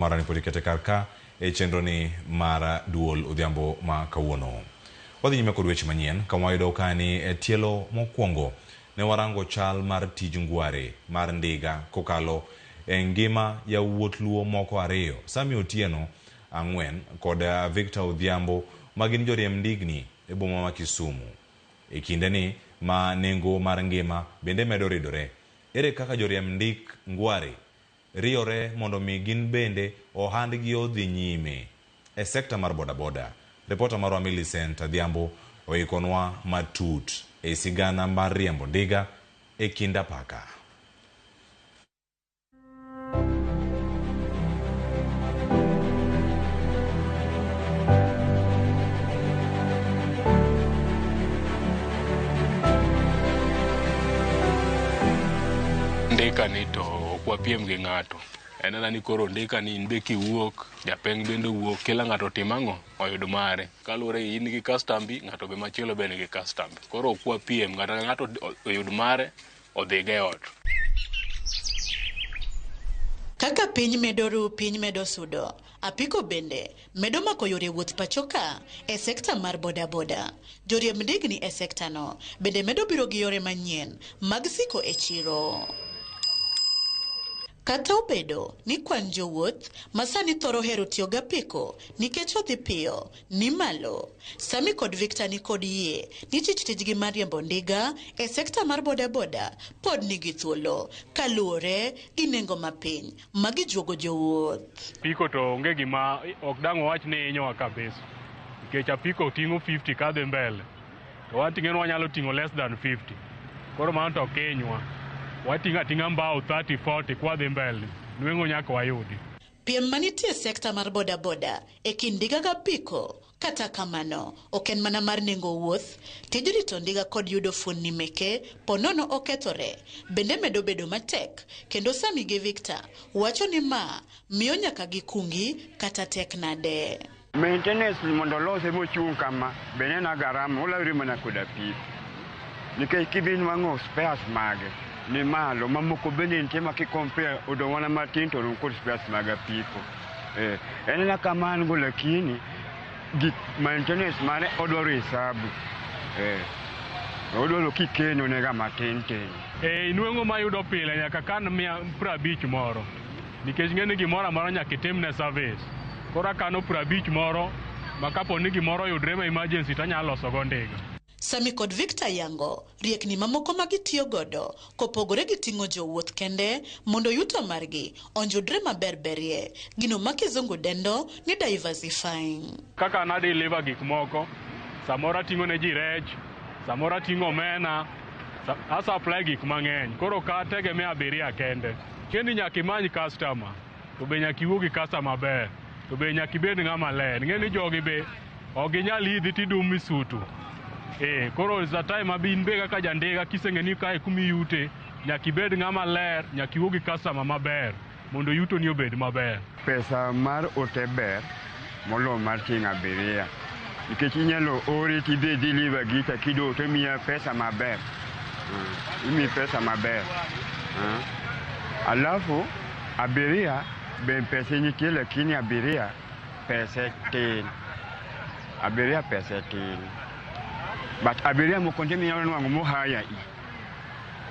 Mara ni podi kete kar ka e chenro ni mara duol odhiambo ma kawuono. Wadhi nyime kod weche manyien kama wayudo ka ni e tielo mokwongo ne warango chal mar tij ngware mar ndiga kokalo e ngima yawuot Luo moko ariyo, Sammy Otieno, ang'wen, kod Victor Odhiambo ma gin joriemb ndigni e boma ma Kisumu. E kinde ni ma nengo mar ngima bende medo ridore, ere kaka joriemb ndik ngware riyore mondo omi gin bende ohandgi odhi nyime. E sekta mar bodaboda, ripota marwa Millicent Adhiambo oikonwa matut ei sigana mar riembo ndiga e kind apaka. Ndiga ni to ok wapiem gi ng'ato en ana ni koro ondika ni in be kiwuok japeng bende owuok kila ng'ato otim ang'o oyud mare kaluwore gi in gi kastambi ng'ato be machielo be nigi kastambi koro ok wapiem ng'ato ka ng'ato oyud mare odhiga e ot Kaka piny medo ru, piny medo sudo. Apiko bende medo mako yore wuoth pachoka e sekta mar bodaboda. Joriemb ndigni e sektano bende medo biro gi yore manyien mag siko e chiro. Kata obedo ni kwan jowuoth ma sani thoro hero tiyo gi apiko nikech odhi piyo ni malo, Sammy kod Victor ni kod yie ni tich tijgi mar riembo ndiga e sekta mar bodaboda pod nigi thuolo kaluwore gi nengo mapiny ma gijuogo jowuoth. Apiko to onge gima ok dang' wawach ni hinyowa kabisa nikech apiko ting'o 50 kadhi mbele to wan ting'eno wanyalo ting'o less than 50 koro mano to ok hinywa wating'o ating'a mbao 30 40 kwadhi mbele nweng'o nyaka wayudi. Piem manitie e sekta mar bodaboda e kind ndiga gapiko Kata kamano, ok en mana mar nengo wuoth, tij rito ndiga kod yudo fuonni meke po nono okethore, bende medo bedo matek, kendo Sammy gi Victor wacho ni ma miyo nyaka gikungi kata tek nade. Maintenance ni mondo olose mochung' kama be ne en a garama, olawri mana kod apiko. Nikech kidhi nwang'o spares mage ni malo, mamoko bende nitie ma ki compare odong' mana matin to orom kod spares mag apiko. Eh, en na kama an go lakini gik maintenance mane odwaro hesabu. Eh. Odwaro kikeno nega matin tin. E, inweng'o ma yudo pile nyaka kan mia prabich moro nikech ng'e ni gimoro amora nyaka itimne service koro akano prabich moro ma kapo ni gimoro oyudre ma emergency to anyalo losogo ndiga Sami kod Victor yango riekni mamoko ma gitiyo godo kopogore gi ting'o jowuoth kende mondo yuto margi onjudre maber berie, gino ma kizungu dendo ni diversifying. Kaka na deliver gik moko, samoro ating'o ne ji rech, samoro ating'o omena, sa- a supply gik mang'eny. Koro ok ategemea abiria kende. Kendi nyaka imany customer. To be nyaka iwuo gi kasta maber. To be nyaka ibed ng'ama ler. Ing'e ni jogi be ok ginyal idhi tidum misutu. Eh, koro is the time ma in be kaka jandiga kiseng'e ni kae kuma iyute, nyaka ibed ng'ama ler, nyaka iwuo gi customer maber mondo yutoni obed maber. Pesa mar ote ber. molo mar tieng' abiria nikech inyalo ori tidhi e deliver gicha kido to imiya pesa maber uh, imiyi pesa maber uh. alafu abiria be pese nitie lakini abiria pese tin abiria pese tin but abiria moko nje minyalo nwang'o mohaya i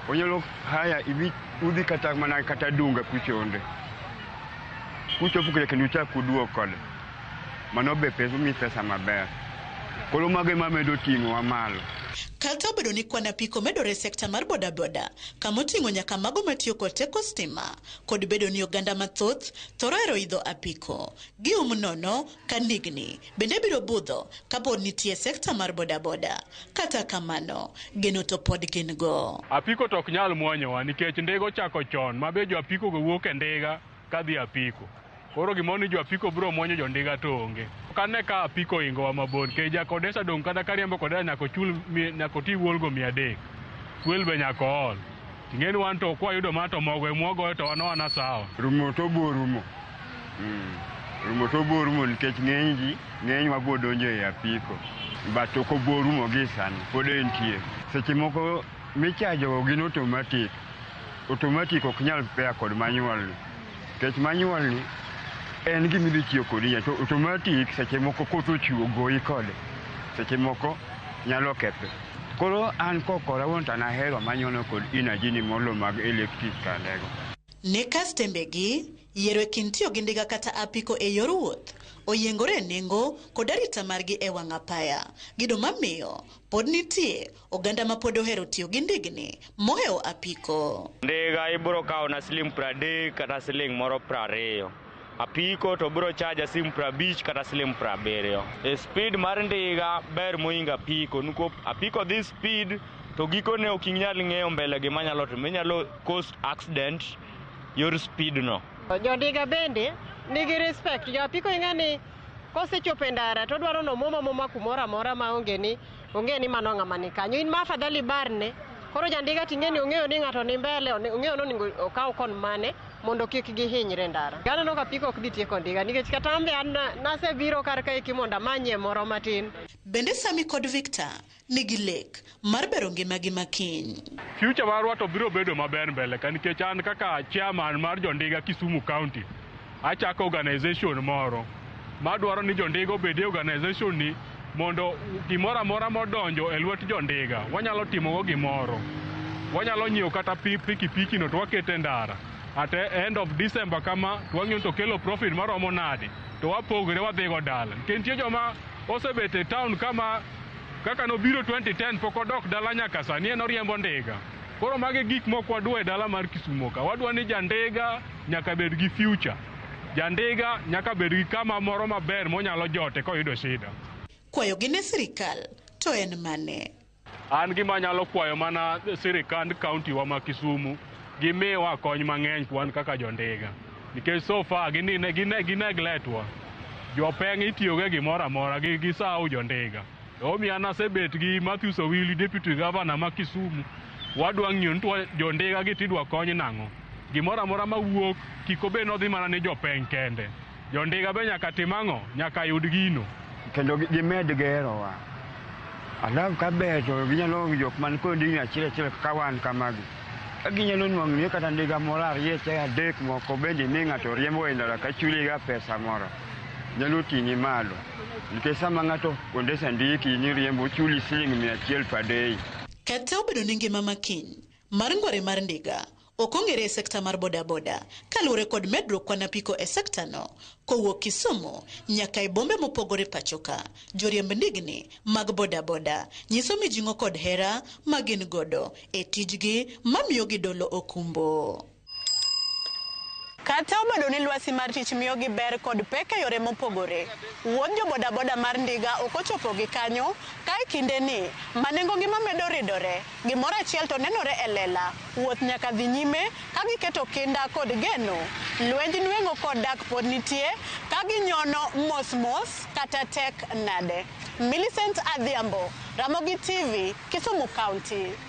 Onyalo haya ibi udhi kata mana kata dunga kuchonde. Kuchopo kire kendo uchak uduog kode. Mano be pesa mi pesa maber. Koro mago ema medo ting'owa malo. Kata obedo ni kwan apiko medore e sekta mar bodaboda, kama oting'o nyaka mago matiyo kod teko stima, kod bedo ni oganda mathoth thoro hero idho apiko, gium nono, ka ndigni bende biro budho ka pod nitie sekta mar bodaboda. Kata kamano, geno to pod gin go. Apiko to ok nyal mwonyowa nikech ndiga ochako chon ma be jo apikogo wuok e ndiga ka dhi e apiko. Koro gimoro ni jo apiko biro mwonyo jo ndiga to onge. Ok ane ka apiko ohingowa mabor nikech ja Kodesa dong' kata ka riembo Kodesa nyaka ochul mi- nyaka oti wuolgo mia adek. Fuel be nyaka ool. Ing'eni wan to kwa yudo ma to mogo e mwagoyo to wan wana sawa. Rumo to bo rumo. Mm. Rumo to bo rumo nikech ng'eny ji ng'eny wa bo donjo e apiko. But ok obo rumo gi sani pod entie. Seche moko michajo gin automatic. Automatic ok nyal pair kod manual. Kech manyuolni en gima idhi tiyo kodi ya to automatic seche moko koth ochwo goyi kode seche moko nyalo kethe koro an kokora wuon to nahero manyono kod energy ni molo mag electric kandego Ne kastembegi, yiero e kind tiyo gi ndiga kata apiko e yor wuoth oyiengore e nengo kod arita margi e wang' apaya. Gido mamiyo pod nitie Oganda ma pod ohero tiyo gi ndigni mohewo apiko. Ndiga ibiro kawona siling' pradek kata siling' moro prariyo. Apiko to biro chaja siling' prabich kata siling' prabiriyo. E speed mar ndiga ber mohingo apiko niko apiko dhi speed to gikone ok inyal ng'eyo mbele gima nyalo timo. Inyalo cause accident yor speed no. Jondiga bende nigi respect. Jo apiko ing'e ni kosechopo e ndara to odwaro ni omwom amwoma kumoro amora maonge ni Ong'e ni mano ng'ama ni kanyo. In ma afadhali barne, koro jandiga ting'e ni ong'eyo ni ng'ato ni mbele, one- ong'eyo ni onego okaw kon mane mondo kik gihinyre ndara. Aneno ka piko ok dhi tieko ndiga nikech kata an be an na- nasebiro kar kaeki mondo amanyie moro matin. Bende Sami kod Victor nigi lek mar bero ngimagi ma kiny. future marwa to biro bedo maber mbele ka nikech an kaka chairman mar jondiga Kisumu County Achako organization moro madwaro ni jondiga obed e organization ni mondo gimoro amora modonjo e lwet jondiga wanyalo timogo gimoro. Wanyalo nyiewo kata pikipiki no to wakete ndara at end of December kama to wang'iyo to kelo profit maromo nade to wapogre wadhigo dala. Nikech nitie joma osebet e town kama kaka nobiro 2010 pok odok dala nyaka sani en oriembo ndiga. Koro magi gik mok wadwa e dala mar Kisumo ka. Wadwa ni jandiga Nyaka bed gi future. Jandiga nyaka bed gi kama moro maber monyalo jote koyudo shida. Kwayogi ne sirikal to en mane? An gima anyalo kwayo mana sirikand kaunti wa ma Kisumu gimiwa kony mang'eny kwan kaka jondiga nikech so far ginine gine ginegletwa jopeng' itiyogo e gimoro amora gi gisawo jondiga omiyo an asebet gi Matthews Owili deputy governor ma Kisumu wadwa ng'iyo ni twa- jondiga gi tidwa kony nang'o Gimoro amora ma wuok kik obed nodhi mana ni jopeng' kende. Jondiga be nyaka tim ang'o? Nyaka yud gino. Kendo gimed gerowa. Alafu ka ber to ginyalo onge jok man kod ndigni achiel achiel kaka wan kamagi. Ka ginyalo nwang'o ni kata ndiga moro ariyo cha adek moko bende mi ng'ato riembo e ndara ka chuliga pesa moro. Nyalo ting'i malo. Nikech sama ng'ato ondesa ndiki ni riembo chuli siling' mia achiel per day. Kata obedo ni ngima makiny Mar ngore mar ndiga ok ong'ere e sekta mar bodaboda kaluwore kod medruok kwan apiko e sekta no kowuok Kisumu nyaka e bombe mopogore pachoka. Joriemb ndigni mag bodaboda nyiso mijing'o kod hera magin godo e tijgi mamiyo gidolo okumbo. Kata obedo ni lwasi mar tich miyogi ber kod pek e yore mopogore, wuodh jobodaboda mar ndiga ok ochopo gi kanyo, ka e kindeni ma nengogi ma medo ridore, gimoro achiel to nenore e lela, wuoth nyaka dhi nyime ka giketo kinda kod geno. Lwenj nweng'o kod dak pod nitie, ka ginyono mos mos kata tek nade. Millicent Adhiambo, Ramogi TV, Kisumu County.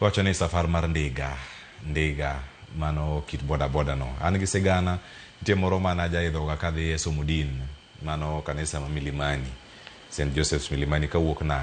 Iwacho ni safar mar ndiga, ndiga, mano kit boda boda no. An gi sigana, nitie moro mane ajaidhoga kadhi e somo din, mano kanisa ma Milimani, Saint Joseph's Milimani kawuok Nanga.